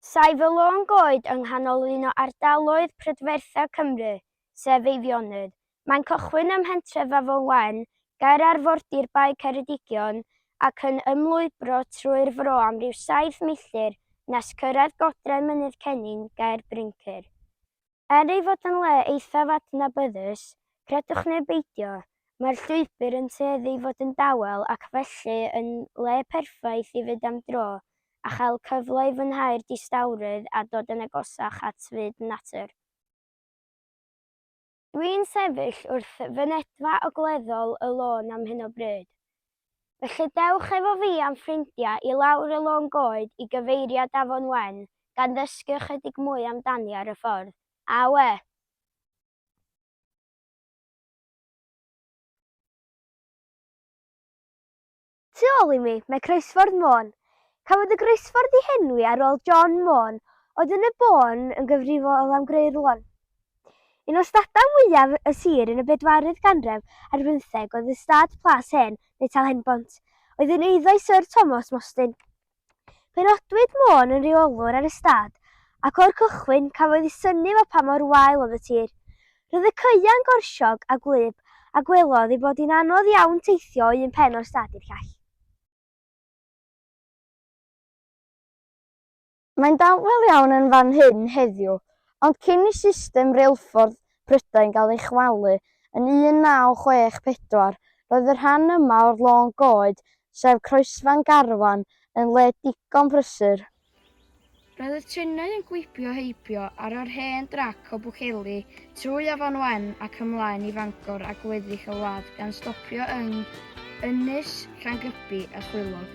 Saif y lôn goed yng nghanol un o ardaloedd prydferthaf Cymru, sef Eifionydd. Mae'n cychwyn ym mhentref Afon Wen, ger arfordir Bae Ceredigion, ac yn ymlwybro trwy'r fro am ryw saith milltir nes cyrraedd godrau Mynydd Cennin, ger Bryncir. Er ei fod yn le eithaf adnabyddus, credwch neu beidio, mae'r llwybr yn tueddu i fod yn dawel ac felly yn le perffaith i fynd am dro a chael cyfle i fwynhau'r distawrwydd a dod yn agosach at fyd natur. Dwi'n sefyll wrth fynedfa ogleddol y lôn am hyn o bryd. Felly dewch efo fi a'm ffrindiau i lawr y lôn goed i gyfeiriad Afon Wen, gan ddysgu ychydig mwy amdani ar y ffordd. Awe! Tu ôl i mi, mae Croesffordd Môn. Cafodd y groesffordd ei henwi ar ôl John Môn, oedd yn y bôn yn gyfrifol am greu'r lôn. Un o stadau mwyaf y sir yn y bedwaredd ganref ar bymtheg oedd y stad Plas Hen, neu Tal Henbont, oedd yn eiddo i Syr Tomos Mostyn. Penodwyd Môn yn reolwr ar y stad, ac o'r cychwyn cafodd ei synnu fel pa mor wael oedd y tir. Roedd y caeau'n gorsiog a gwlyb, a gwelodd ei bod hi'n anodd iawn teithio o un pen o'r stad i'r llall. Mae'n dawel iawn yn fan hyn heddiw, ond cyn i system reilffordd Prydain gael ei chwalu yn 1964, roedd y rhan yma o'r lôn goed, sef croesfan garfan, yn le digon prysur. Roedd y trenau yn gwibio heibio ar yr hen drac o Bwceli trwy Afon Wen ac ymlaen i Fangor a gweddill y wlad gan stopio yng Ynys, Llangybi a Chwilog.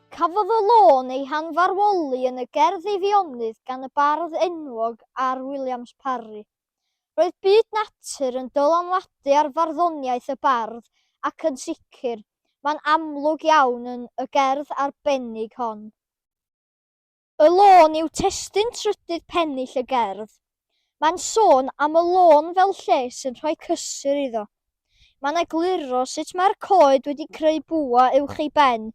Cafodd y lôn ei hanfarwoli yn y gerdd Eifionydd gan y bardd enwog R. Williams Parry. Roedd byd natur yn dylanwadu ar farddoniaeth y bardd ac yn sicr, mae'n amlwg iawn yn y gerdd arbennig hon. Y lôn yw testun trydydd pennill y gerdd. Mae'n sôn am y lôn fel lle sy'n rhoi cysur iddo. Mae'n egluro sut mae'r coed wedi creu bwa uwch ei ben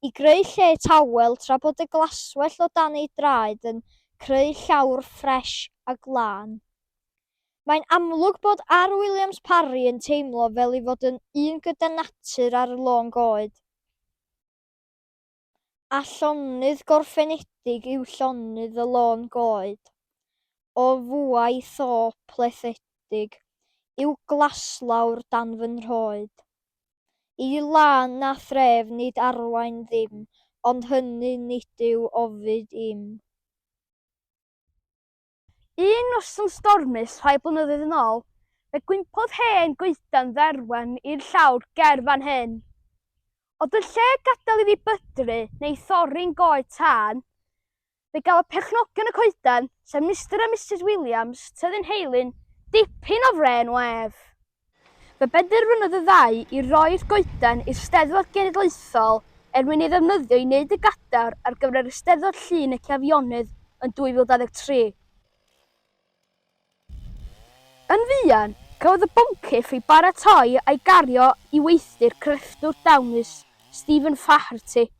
i greu lle tawel tra bod y glaswellt o dan ei draed yn creu llawr ffres a glân. Mae'n amlwg bod R. Williams Parry yn teimlo fel ei fod yn un gyda natur ar y lôn goed. a llonydd gorffenedig yw llonydd y lôn goed. O fuae tho plethedig yw glaslawr dan fy nhroed. Y lan a thref nid arwain ddim, ond hynny nid yw ofid i'm. Un noson stormus rhai blynyddoedd yn ôl, fe gwympodd hen goedan dderwen i'r llawr ger fan hyn. Ond yn lle gadael iddi bydru neu thorri'n goed tân, fe gafodd perchnogion y coedan, sef Mister a Misus Williams, tyddyn Heilyn, dipyn o frên o ef. Fe benderfynodd y ddau i roi'r goeden i'r Steddfod Genedlaethol er mwyn ei ddefnyddio i wneud y gadar ar gyfer yr Eisteddfod Llun y Cefionydd yn 2023. Yn fuan, cafodd y boncyff ei baratoi a'i gario i weithdy'r crefftwr dawnus Stephen Faherty.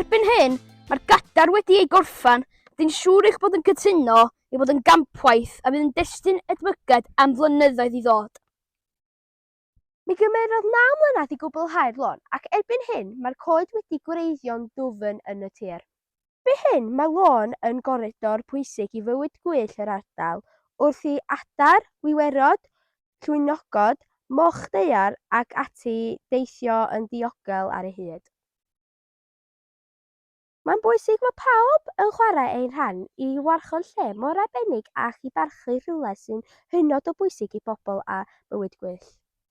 Erbyn hyn, mae'r gadar wedi ei gorffan, dyn siŵr eich bod yn cytuno i fod yn gampwaith a fydd yn destun edmygedd am flynyddoedd i ddod. Mi gymerodd naw mlynedd i gwblhau'r lôn ac erbyn hyn mae'r coed wedi gwreiddio'n ddwfn yn y tir. Bydd hyn, mae Lôn yn goridor pwysig i fywyd gwyllt yr ardal, wrth i adar, wiwerod, llwynogod, moch daear ac ati deithio yn ddiogel ar ei hyd. Mae'n bwysig fod pawb yn chwarae eu rhan i warchod lle mor arbennig ac i barchu rhywle sy'n hynod o bwysig i bobl a bywyd gwyllt.